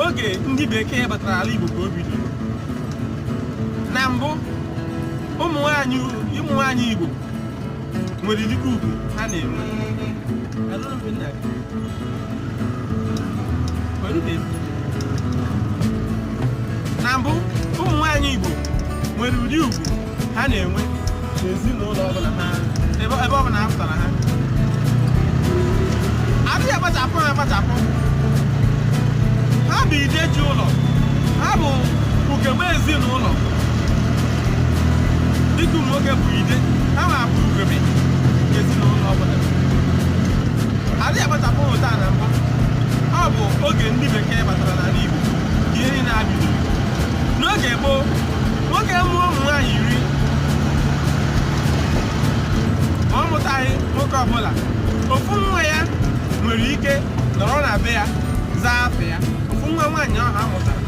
oge ndị bekee batara ala Igbo ka o bidoro na mbụ ụmụ nwaanyị Igbo nwere dịka ugwu ha na-enwe na mbụ ụmụ nwaanyị Igbo nwere ụdị ugwu ha na-enwe n'ezinụlọ ọbụla ha ebe ọbụla ha pụtara ha adịghị akpachapụ ha akpachapụ ha bụ ide ji ụlọ ha bụ ugegbe ezinụlọ dịka ụmụ nwoke bụ ide ha nwa bụ ugegbe ezinụlọ ọbụla adịghị akpachapụ ha taa na mbụ ọ bụ oge ndị bekee batara n'ala Igbo ka ihe niile a bidoro n'oge gboo nwoke mụọ ụmụ nwaanyị iri ma ọ mụtaghị nwoke ọbụla ofu nwa ya nwere ike nọrọ na be ya zaa afa ya ofu nwa nwaanyị ahụ a mụtara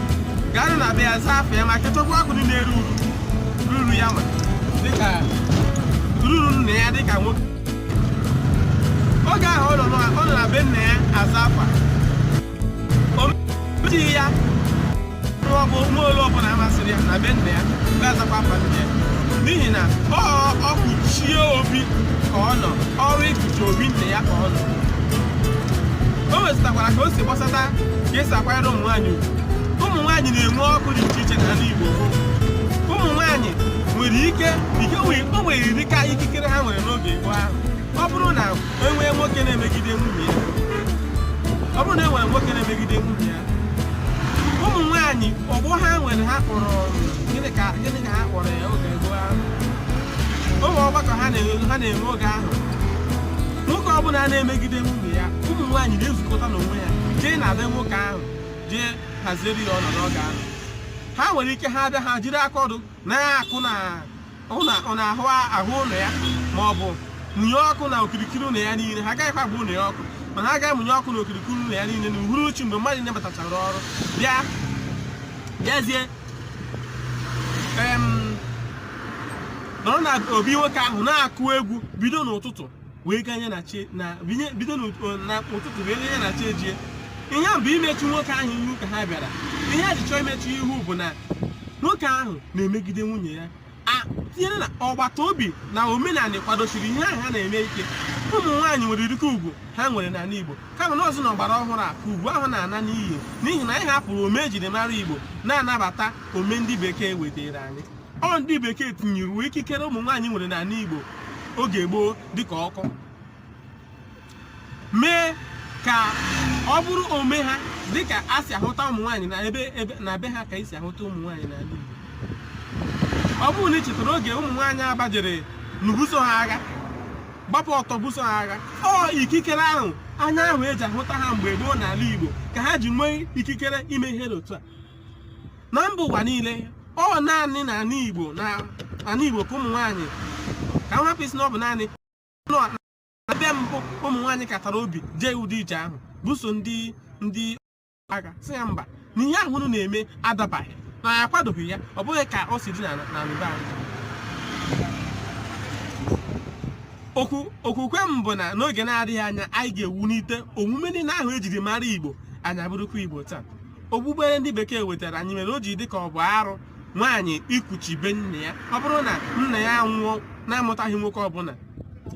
ga-anọ na be ya zaa afa ya ma ketakwa akụ niile eru uru ruru ya ma dịka ruru nna ya dịka nwoke oge ahụ ọ nọ na be nna ya aza afa omejighị ya ọ bụ nwa ole ọbụla masịrị ya na be nna ya ga-azakwa afa nna ya n'ihi na ọ ọ kpuchie obi ka ọ nọ ọrụ ikpuchi obi nna ya ka ọ nọ o nwezụtakwara ka o si gbasata ka esi akwanyere ụmụ nwaanyị ugwu ụmụ nwaanyị na-enwe ọkụ dị iche iche n'ala Igbo ụmụ nwaanyị nwere ike ike o nwere dịka ikikere ha nwere n'oge gboo ahụ ọ bụrụ na enwee nwoke na-emegide nwunye ya ọ bụrụ na enwere nwoke na-emegide nwunye ya ụmụ nwaanyị ọgbọ ha nwere ha kpọrọ gịnị ka ha kpọrọ ya oge gboo ahụ ụmụ ọgbakọ ha na-enwe oge ahụ nwoke ọbụla na-emegide nwunye ya ụmụ nwaanyị na-ezukọta n'onwe ya jee na be nwoke ahụ jee hazieri ya ọnọdụ oge ahụ ha nwere ike ha bịa ha jiri aka ọdụ na-akụ na n'ahụ ụlọ ya ma ọ bụ mụnye ọkụ na okirikiri ụlọ ya niile ha agaghịkwa agba ụlọ ya ọkụ mana ha ga-amụnye ọkụ na okirikiri ụlọ ya niile na uhuruchi mgbe mmadụ niile batachara ọrụ bịa bịazie nọrọ na obi nwoke ahụ na-akụ egwu bido n'ụtụtụ wee ganye na chi na binye bido n'ụtụtụ wee ganye na chi ejie ihe a bụ imechu nwoke ahụ ihu ka ha bịara ihe a ji chọọ imechu ihu bụ na nwoke ahụ na-emegide nwunye ya tinyere na ọgbata obi na omenala kwadosiri ihe ahụ ha na-eme ike ụmụ nwaanyị nwere dịka ugwu ha nwere n'ala Igbo kama na ọ bụzi na ọgbara ọhụrụ a ka ugwu ahụ na-ana n'iyi n'ihi na anyị hapụrụ ome ejiri mara Igbo na-anabata ome ndị bekee wetara anyị ọ ndị bekee tinyụwe ikikere ụmụ nwaanyị nwere n'ala Igbo oge gboo dịka ọkụ mee ka ọ bụrụ ome ha dịka a si ahụta ụmụ nwaanyị na ebe ebe na be ha ka esi ahụta ụmụ nwaanyị n'ala Igbo ọ bụrụ na ị chetara oge ụmụ nwaanyị Aba jere n'ibuso ha agha gbapụ ọtọ buso ha agha ọ ikikere ahụ anya ahụ eji ahụta ha mgbe gboo n'ala Igbo ka ha ji nwee ikikere ime ihe dị otu a na mba ụwa niile ọ naanị na ala Igbo na ala Igbo ka ụmụ nwaanyị ka m hapụ ịsị na ọ bụ naanị ebe mbụ ụmụ nwaanyị katara obi jee ụdị ije ahụ buso ndị ndị agha sị ya mba na ihe ahụ unu na-eme adabaghị na ya akwadoghị ya ọ bụghị ka o si dị na mba anyị okwukwe m bụ na n'oge na-adịghị anya anyị ga-ewulite omume niile ahụ ejiri mara Igbo anyị abụrụkwa Igbo taa okpukpere ndị bekee wetara anyị mere o ji dị ka ọ bụ arụ nwaanyị ikuchi be nna ya ọ bụrụ na nna ya nwụọ na-amụtaghị nwoke ọbụla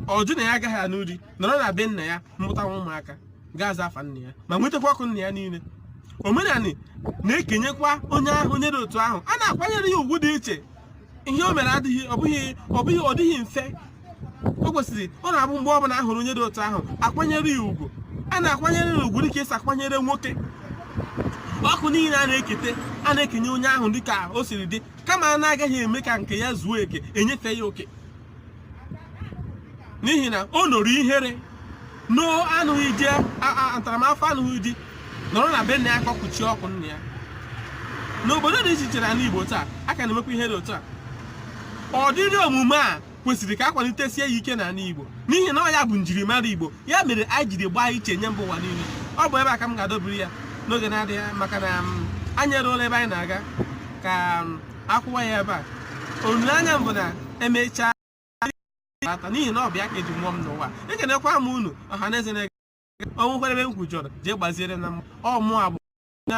ọ jụ na ya agaghị anụ di nọrọ na be nna ya mụtawa ụmụaka ga-aza afa nna ya ma nwetakwa ọkụ nna ya niile omenanị na-ekenyekwa onye ahụ onye dị otu ahụ a na-akwanyere ya ugwu dị iche ihe o mere adịghị ọ bụghị ọ bụghị ọ dịghị mfe o kwesịrị ọ na-abụ mgbe ọbụla a hụrụ onye dị otu ahụ akwanyere ya ugwu a na-akwanyere ya ugwu dịka esi akwanyere nwoke ọkụ niile a na-ekete a na-ekenye onye ahụ dịka o siri dị kama a na-agaghị eme ka nke ya zuo e kenyefe ya oke n'ihi na o noro ihere noo anụghị di ntaramahụhụ anụghị di nọrọ na be nna ya ka o kuchie ọkụ nna ya n'obodo dị iche iche na ala Igbo taa a ka na-emekwa ihe dị otu a ụdịrị omume a kwesịrị ka a kwalitesie ya ike n'ala Igbo n'ihi na ọ ya bụ njirimara Igbo ya mere anyị jiri gbaa iche nye mba ụwa niile ọ bụ ebe a ka m ga-adọbiri ya n'oge na-adịghị maka na um, anyị eruola ebe anyị na-aga ka um, akwụwa ya ebe a olileanya m bụ na emechaa ata n'ihi na ọ bụ ya ka eji mụọ m n'ụwa ekenekwa m unu ọha na eze na-ege o nwekwere ebe m kwujọrọ jee gbaziere na mma ọ mụ agbụ na